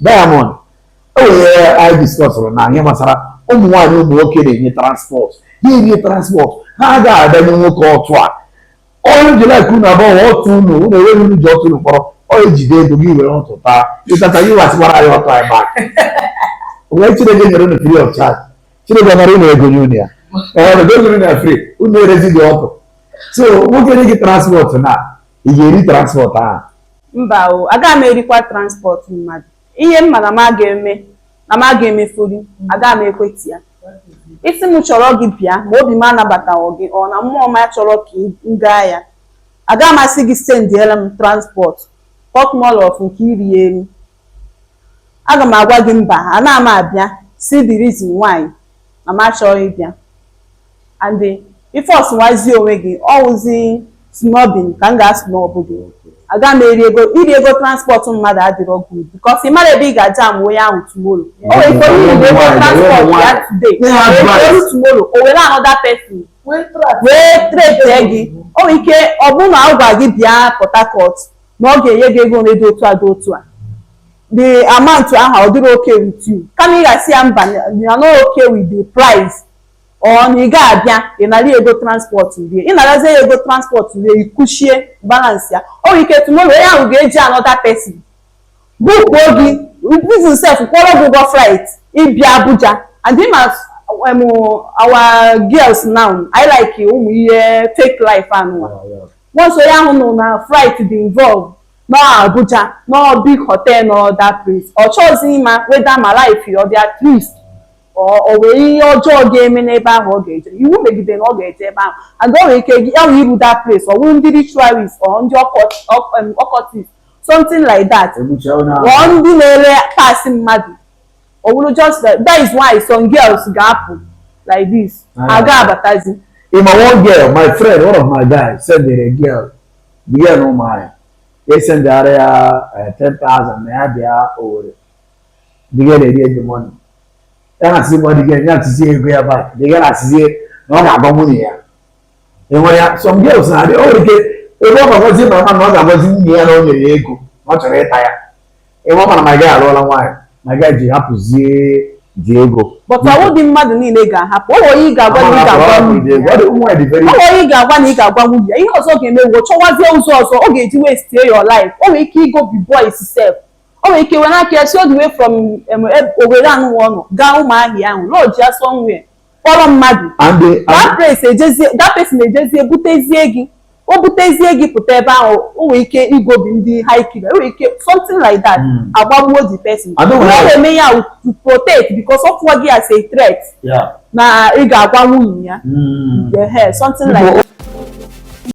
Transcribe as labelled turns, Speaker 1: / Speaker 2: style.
Speaker 1: Diamond enwere anyị diskọsụrụ na ihe gbasara ụmụ nwaanyị ụmụ nwoke na-enye transport ha enye transport ha agaghị adanye nwoke ọtụ a onye jilak unu abụọ ọtụ unu unu enweghị unu ji ọtụ unu kpọrọ ọ ejide ego gị were ọtụ taa ịtata gị wasịkwara anyị ọtụ anyị back wee chineke nyere unu free of charge chineke nara unu ego nye unu ya ee ego unu na free unu erezi gị ọtụ so nwoke nye gị transport na ị ga-eri transport ahụ mba o agaghị m erikwa transport mmadụ ihe m ma na m aga eme na m aga emefuru agaghị m ekwete ya ị sị m chọrọ gị bịa ma obi m anabataghị gị ọ na mmụọ m achọrọ ka m gaa ya agaghị m asị gị sendiela m transport talk more of nke iri elu aga m agwa gị mba ana m abịa see the reason why na m achọghị ịbịa and eh, if ọ sụwazi onwe gị ọ wụzi snubbing ka m ga-asnọbụ gị aga m eri ego iri ego transport mmadụ adịrọ good because ị mara ebe ị ga-ajam onye ahụ tomorrow o nwere ike onye iri ego transport ya today o lu tomorrow o were another person wee trete gị o nwere ike ọ bụrụ na a gwa gị bịa Port Harcourt na ọ ga-enye gị ego dị otu a dị otu a the amount ahụ ọ dịrọ okay with you kama ị ga-asị ya mba na no okay with the price ọ na ị ga abịa ị nara ya ego transport rie ị narazie ya ego transport rie ikuchie balansị ya o nwere ike tomorrow onye ahụ ga-eji another person bookuo gị bizin sef kwụọrọ gị ụgwọ flight ịbịa Abuja and ị ma as um, our girls na-alike ụmụ ihe fake life anụwa once onye ahụ nụ na flight dị involved nọ Abuja nọ big hotel nọ that place ọ chọghịzi ịma whether ma life ọ dị at risk o nwere ihe ọjọọ ga-eme n'ebe ahụ ọ ga-eje iwu megide na ọ ga-eje ebe ahụ and o nwere ike gị ya wee iru that place ọ bụrụ ndị ritualist or ndị occultist something like that or ndị na-ere parts mmadụ ọ bụrụ just that that is why some girls ga-apụ like this ha aga abatazi ị ma one girl my friend one of my guys sendịrị a girl the girl nọ Umuahia esendịara ya ten thousand na ya bịa Owerri the girl erie the money ya na asịzi mọnụ gị ya atụzie ego ya back the girl na-asịzie na ọ ga-agwa nwunye ya enwere ya sọ mgbe ụsọ adị o nwere ike ebe ọ ga-agwazi ma ma na ọ ga-agwazi nwunye ya na o nyere ya ego na ọ chọrọ ịta ya ebe ọ ma na my guy alụọla nwaanyị my guy ji hapụzie the ego but ọ wụghị mmadụ niile ga-ahapụ o nwere ị ga-agwa na ị ga-agwa nwunye ya o nwere ị ga-agwa na ị ga-agwa nwunye ya ihe ọzọ ga-eme wụ chọwazie ụzọ ọzọ ọ ga-eji wee sie your life o nwere ike igo bi boys sef o nwere ike were aka ya si all the way from em, e- Owerri anụwa ọ nọ gaa Ụmụahịa ahụ lodge ya somewhere kpọrọ mmadụ and the and that place ejezie that person ejezie butezie gị o butezie gị pụta ebe ahụ o nwere ike igobi ndị hired killer o nwere ike something like that Mm. agbagbuo the person I don't Ihe know. ọ na-eme ya wụ to protect because ọ fụọ gị as a threat yeah. na ị ga-agwa nwunye ya Mm. ehe something like People that.